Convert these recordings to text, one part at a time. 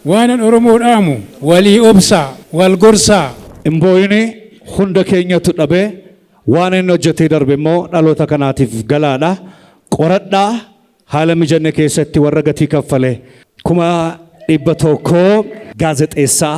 Waanan Oromoof dhaamu walii obsaa, wal gorsaa. Hin boo'ini hunda keenyatu dhabe. Waan inni hojjetee darbe immoo dhaloota kanaatiif galaadha. Qoradhaa haala mijanne keessatti warra gatii kaffale kuma dhibba tokko. Gaazexeessaa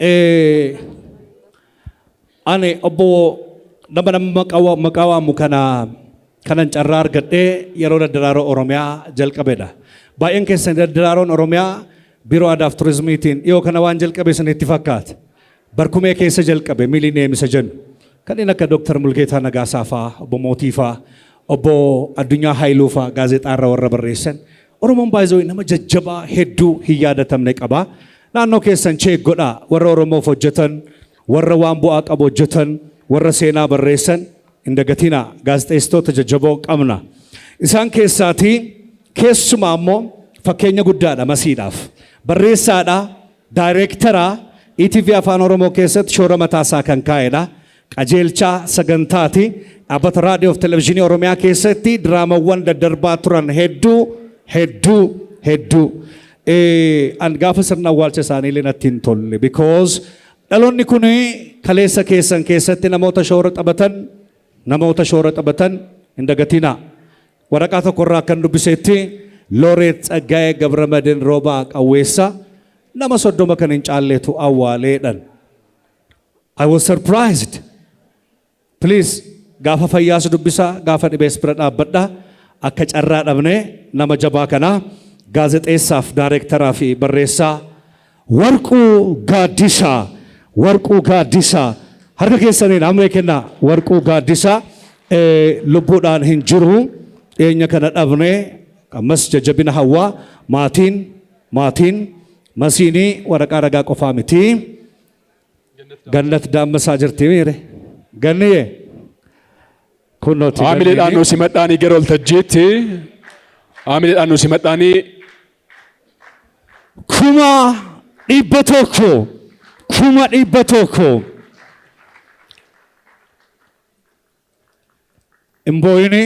Eh, ani obbo nama nama maqaa wa- maqaa waamu kana kanan carraa argadhee yeroo daddaraaroo Oromiyaa jalqabedha. Baay'een keessan daddaraaroon Oromiyaa biiroo aadaaf turizimiitiin dhiyoo kana waan jalqabe isinitti fakkaata. Barkumee keessa jalqabe Millennium isa jennu. Kanneen akka Dr. Mulgeetaa Nagaasaa faa, Obbo Mootii faa, Obbo Addunyaa Haayiluu faa gaazexaa irra warra barreessan. Oromoon by the way nama jajjabaa hedduu hin yaadatamne qaba. Naannoo keessan check godhaa warra Oromoof hojjetan, warra waan bu'aa qabu hojjetan, warra seenaa barreessan hin dagatinaa. Gaazexeessitoota jajjaboo qabna. Isaan keessaatii keessumaa immoo fakkeenya guddaadha masiidhaaf. Barreessaadha, Daayireektara etv Afaan Oromoo keessatti shoora mataa isaa kan kaa'edha. Qajeelchaa sagantaati. Dhaabbata Raadiyoof Televizhinii Oromiyaa keessatti diraamawwan daddarbaa turan hedduu hedduu hedduu. An gaafa sirna awwaalcha isaanii illee natti hin tolle because dhaloonni kun kaleessa keessan keessatti namoota shoora taphatan namoota shoora taphatan hin dagatinaa. Waraqaa tokko irraa akkan dubbiseetti Looreet Tsaggaayee Gabramadin Roobaa Qawweessaa nama soddoma kan hin caalleetu awwaaleedhan. I was surprised. Please gaafa fayyaas dubbisaa gaafa dhibees bira dhaabbadha. Akka carraa dhabnee nama jabaa kanaa gaazexeessaaf daayireektaraa fi barreessaa Warquu Gaaddisaa Warquu Gaaddisaa Harka keessaniin hammee kennaa Warquu Gaaddisaa lubbuudhaan hin jiru dhiyeenya kana dhabne ammas jajjabina hawwaa maatiin maatiin masiinii waraqaa ragaa qofaa miti gannat daammasaa jirti miire ganniyee kunnooti Haamileedhaan nu simadhaanii gara waltajjiitti haamileedhaan nu simadhaanii kuma dhibba tokko kuma dhibba tokko imbooyini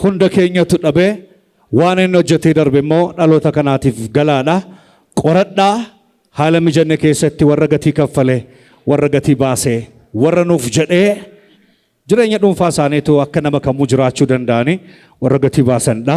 hunda keenyatu dhabe waan inni hojjetee darbe immoo dhaloota kanaatiif galaadha qoradhaa haala mijanne keessatti warra gatii kaffale warra gatii baase warra nuuf jedhee jireenya dhuunfaa isaaniitu akka nama kamuu jiraachuu danda'anii warra gatii baasanidha.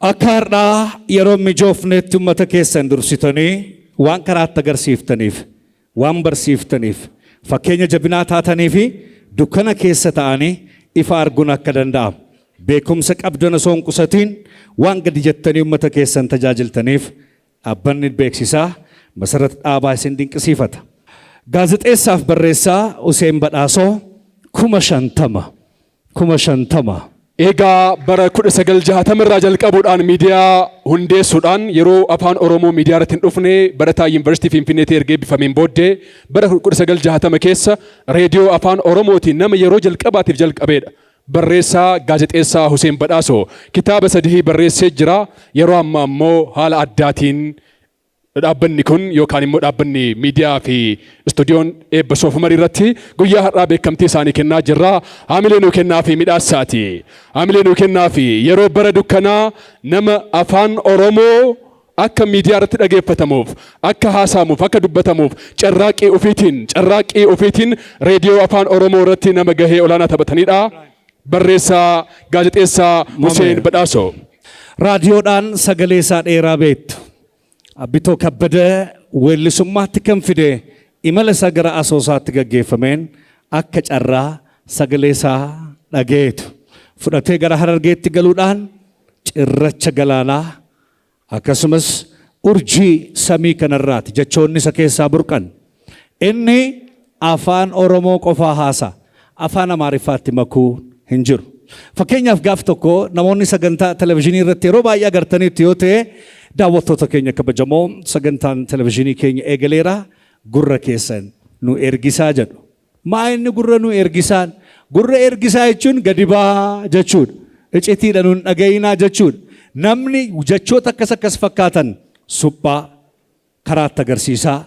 Akka har'aa yeroo hin mijoofneetti ummata keessan dursitanii waan karaatti agarsiiftaniif, waan barsiiftaniif, fakkeenya jabinaa taatanii fi dukkana keessa ta'anii ifa arguun akka danda'amu, beekumsa qabdan osoo hin qusatiin waan gadi jettanii ummata keessan tajaajiltaniif Dhaabbanni beeksisaa Masarat Dhaabaa isin dinqisiifata. Gaazexeessaaf barreessaa Huseen Badhaasoo kuma shantama kuma shantama. Eegaa bara 1960 irraa jalqabuudhaan miidiyaa hundeessuudhaan yeroo Afaan Oromoo miidiyaa irratti hin dhufne barataa Yuunivarsiitii Finfinneetii erga eebbifameen booddee bara 1960 keessa reediyoo Afaan Oromootiin nama yeroo jalqabaatiif jalqabeedha. Barreessaa, Gaazexeessaa Huseen Badhaasoo kitaaba sadii barreessee jira. Yeroo ammaa immoo haala addaatiin dhaabbanni kun yookaan immoo dhaabbanni miidiyaa fi istuudiyoon eebba soofumarii irratti guyyaa har'aa beekamtii isaanii kennaa jirra. Haamilee nuu kennaa fi midhaassaati. Haamilee nuu kennaa fi yeroo bara dukkanaa nama afaan Oromoo Akka miidiyaa irratti dhageeffatamuuf, akka haasa'amuuf, akka dubbatamuuf carraaqqii ofiitiin, carraaqqii ofiitiin Reediyoo Afaan Oromoo irratti nama gahee olaanaa taphataniidha. Barreessaa, Gaazexeessaa Huseen Badhaasoo. Raadiyoodhaan sagalee isaa dheeraa beektu. Abbitoo Kabbada weellisummaatti kan fide imala isaa gara asoosaatti gaggeeffameen akka carraa sagalee isaa dhageetu. Fudhatee gara Harargeetti galuudhaan cirracha galaanaa Akkasumas, urjii samii kanarraati jechoonni isa keessaa burqan. Inni Afaan Oromoo qofaa haasa'a. Afaan Amaariffaatti makuu hin jiru. Fakkeenyaaf gaaf tokko namoonni sagantaa televizhinii irratti yeroo baay'ee agartaniittu yoo ta'e, daawwattoota keenya kabajamoo sagantaan televizhinii keenya eegaleera gurra keessan nu ergisaa jedhu. Maa inni gurra nu ergisaan? Gurra ergisaa jechuun gadi bahaa jechuudha. Icitiidha nun dhaga'iinaa jechuudha. Namni jechoota akkas akkas fakkaatan suphaa, karaatti agarsiisaa,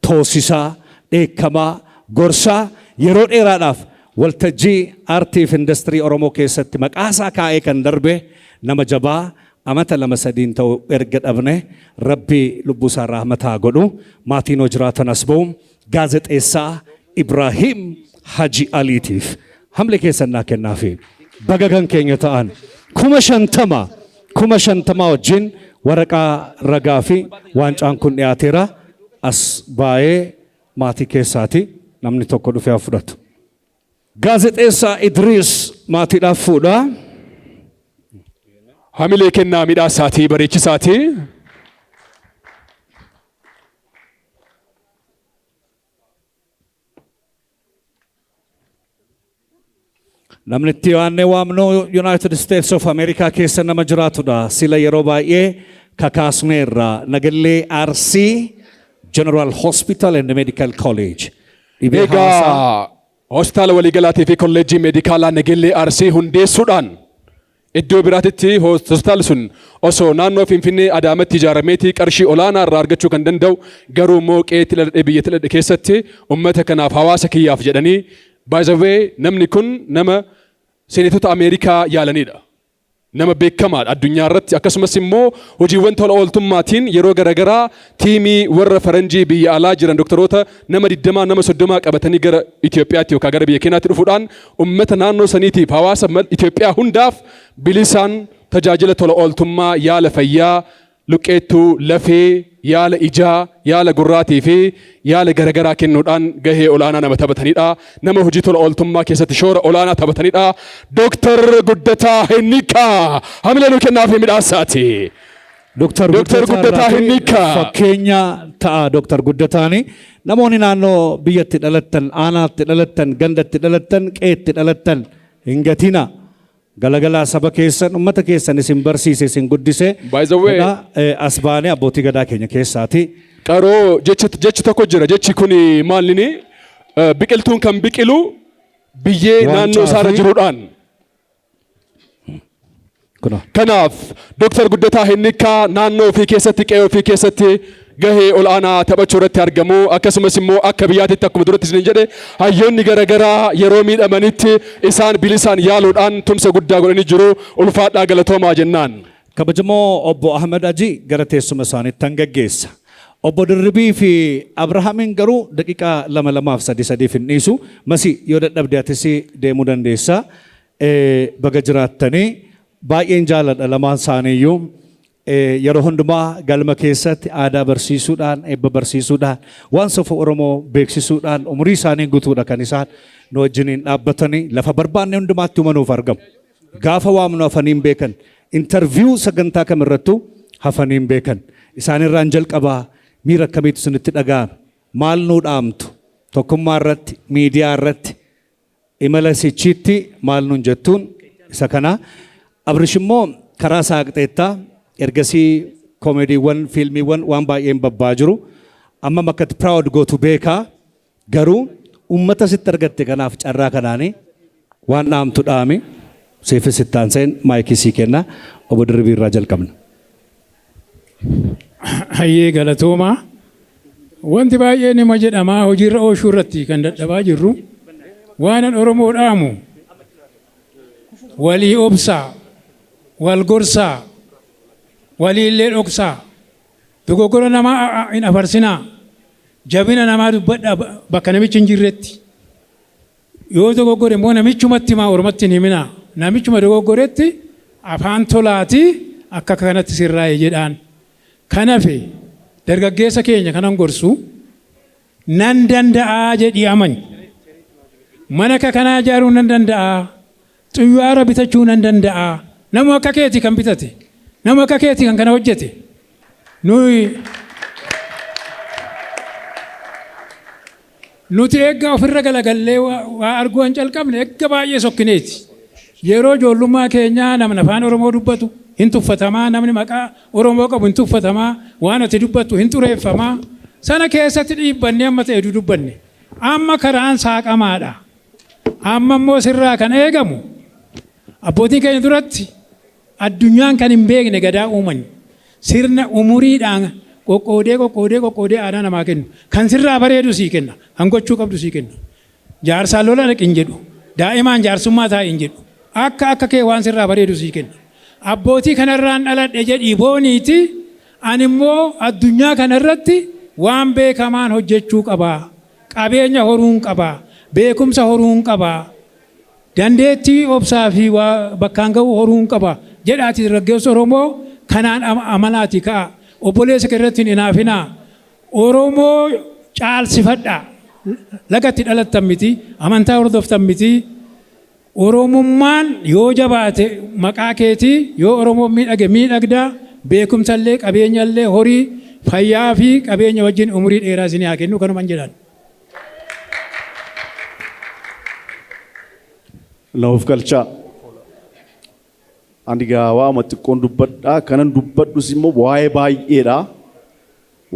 toosisaa, dheekkamaa, gorsaa yeroo dheeraadhaaf waltajjii aartii fi indastirii Oromoo keessatti maqaasaa kaa'ee kan darbe nama jabaa amata lama sadiin ta'u erga dhabne rabbi lubbuusaa rahmata haa godhu maatiin hoo jiraatan as ba'u Gaazexeessaa Ibraahiim Haji Aliitiif hamle keessan naa kennaafi. Baga kan keenya ta'an kuma shantama kuma shantamaa wajjin waraqaa ragaa fi waancaan kun dhiyaateera. As baayee maatii keessaati namni tokko dhufee haa fudhatu. Gaazexeessaa Idriis maatiidhaaf fuudha. Hamilee kennaa midhaasaatii bareechisaatii. Namni itti waannee waamnu Yuunaayitid Isteets of Ameerikaa keessa nama jiraatudha. Sila yeroo baay'ee kakaasneerra. Nagallee Arsii General Hospital and Medical College. Dhibee Egaa hawaasaa. hospitaala waliigalaatii fi kolleejjii meedikaalaa Nageellee Arsii hundeessuudhaan iddoo biraatitti hos- hospitaalli sun osoo naannoo Finfinnee Adaamatti ijaarameetii qarshii olaanaa irraa argachuu kan danda'u garuu immoo qe'eetti dhaladhe biyyatti dhaladhe keessatti uummata kanaaf hawaasa kiyyaaf jedhanii by the way namni kun nama seenetota Ameerikaa yaalanidha. Nama beekamaadha addunyaa irratti akkasumas immoo hojiiwwan tola ooltummaatiin yeroo garagaraa tiimii warra faranjii biyya alaa jiran doktaroota nama 20 nama 30 qabatanii gara Itoophiyaatti yookaan gara biyya keenyaatti dhufuudhaan ummata naannoo saniitiif hawaasa Itoophiyaa hundaaf bilisaan tajaajila tola ooltummaa yaala fayyaa Luqqeettuu, lafee, yaala ijaa, yaala gurraatii fi yaala garagaraa kennuudhaan gahee ol'aanaa nama taphatanidha. Nama hojii tola ooltummaa keessatti shoora ol'aanaa taphatanidha. Dr. Guddataa Hinniikaa hamilee nuu kennaafii midhaassaati. Dr. Dr. Guddataa Guddataa irraati Hinniikaa. fakkeenya ta'a Dr. Guddataani. Namoonni naannoo biyyatti dhalattan, aanaatti dhalattan, gandatti dhalattan, qeetti dhalattan hin gatina. Galagalaa saba keessan ummata keessan isin barsiise isin guddise By the way- jedha eh, as baanee abbootii gadaa keenya keessaati. Qaroo jechi jechi tokko jira jechi kuni maal inni Eh, biqiltuun kan biqilu biyyee Waancaa naannoo isaarra fi- jiruudhaan. Kunoo. Kanaaf Dooktar Guddataa Hinnikkaa naannoo ofii keessatti qe'ee ofii keessatti gahee ol'aanaa taphachuu irratti argamu. Akkasumas immoo akka biyyaatitti akkuma duratti isiniin jedhe hayyoonni garagaraa yeroo miidhamanitti isaan bilisaan yaaluudhaan tumsa guddaa godhanii jiru. Ulfaadhaa galatoomaa jennaan. Kabajamoo Obbo Ahmed Hajii gara teessuma isaaniittan gaggeessa. Obbo Dirribii fi Abrahaamin garuu daqiiqaa lama lamaaf sadii sadiif hin dhiisu. Masi yoo dadhabde atis deemuu dandeessa. Baga jiraattanii baay'een jaaladha lamaan isaaniiyyuu. Yeroo hundumaa galma keessatti aadaa barsiisuudhaan, eebba barsiisuudhaan, waan safuu Oromoo beeksisuudhaan umurii isaanii gutuudha kan isaan nu wajjiniin dhaabbatanii lafa barbaanne hundumaatti uma nuuf argamu. Gaafa waamnu hafanii hin beekan. Interviyuu sagantaa kam irrattuu hafanii hin beekan. Isaanirraan jalqabaa miira akkamiitu isinitti dhaga'ame? Maal nuu dhaamtu? Tokkummaa irratti, miidiyaa irratti, Imala sichiitti maal nuun jettuun isa kana. Abrish immoo karaa saaqxeetta. Ergasii koomediiwwan, fiilmiiwwan waan baay'een babba'aa jiru. Ammam akka itti proud gootu beeka. Garuu uummata sitti argatte kanaaf carraa kanaani waan dhaamtu dhaami. Siifis itti aanseen maayikii sii kenna. Obbo Dirribii irraa jalqabna. Hayyee galatoomaa. Wanti baay'ee nima jedhamaa hojiirra ooshuu irratti kan dadhabaa jirru waanan Oromoo dhaamu walii obsaa, wal gorsaa, waliillee dhoksaa, dogoggora namaa hin afarsinaa, jabina namaa dubbadhaa bakka namichi hin jirretti. Yoo dogoggore immoo namichumatti himaa ormatti hin himinaa. Namichuma dogoggoretti afaan tolaatii akka kanatti sirraa'e jedhaan. Kan hafe dargaggeessa keenya kanan gorsu nan danda'aa jedhii amani. Mana akka kanaa ijaaruu nan danda'aa? Xuywaara bitachuu nan danda'aa? Nama akka keeti kan bitate? Nama akka keeti kan kana hojjete? Nuyi Nuti eeggaa ofirra galagallee waa waa arguu hin calqabne eegga baay'ee sokkineeti. Yeroo ijoollummaa keenyaa namni afaan Oromoo dubbatu hin tuffatamaa, namni maqaa Oromoo qabu hin tuffatamaa, waan ati dubbattu hin xureeffamaa. Sana keessatti dhiibbannee amma ta'e dudubbanne. Amma karaan saaqamaadha. Amma immoo sirraa kan eegamu abbootii keenya duratti addunyaan kan hin beekne gadaa uuman sirna umuriidhaan qoqqoodee qoqqoodee qoqqoodee aadaa namaa kennu kan sirraa bareedu sii kenna kan gochuu qabdu sii kenna jaarsaan lola dhaqi hin jedhu daa'imaan jaarsummaa taa'e hin jedhu akka akka kee waan sirraa bareedu sii kenna abbootii kanarraan dhaladhe jedhii booniiti ani immoo addunyaa kanarratti waan beekamaan hojjechuu qabaa. Qabeenya horuun qaba. Beekumsa horuun qaba. Dandeettii obsaa fi waa bakkaan gahuu horuun qaba. Jedhaati dargaggeessi Oromoo kanaan amanaati ka'a. Obboleessa kee irratti hin inaafinaa. Oromoo caalsifadhaa. Laga itti dhalattan miti. Amantaa hordoftan miti. Oromummaan yoo jabaate maqaa keeti, yoo Oromoon miidhage miidhagda, beekumsa illee, qabeenya illee, horii, fayyaa fi qabeenya wajjin umurii dheeraa isinii haa kennu kanuman jedhan. Na of galchaa. Ani gaa waama xiqqoon dubbadha. Kanan dubbadhus immoo waa'ee baay'eedha.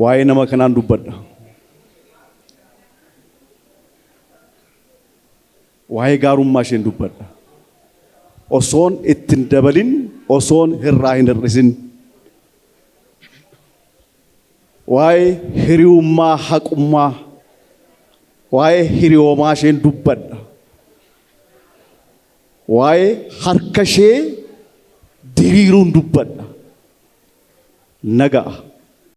Waa'ee nama kanaan dubbadha. Waa'ee gaarummaa isheen dubbadha. Osoon itti hin dabalin, osoon irraa hin hir'isin. Waa'ee hiriyummaa haqummaa, waa'ee hiriyoomaa isheen dubbadha. Waa'ee harka ishee diriiruun dubbadha. Na ga'a.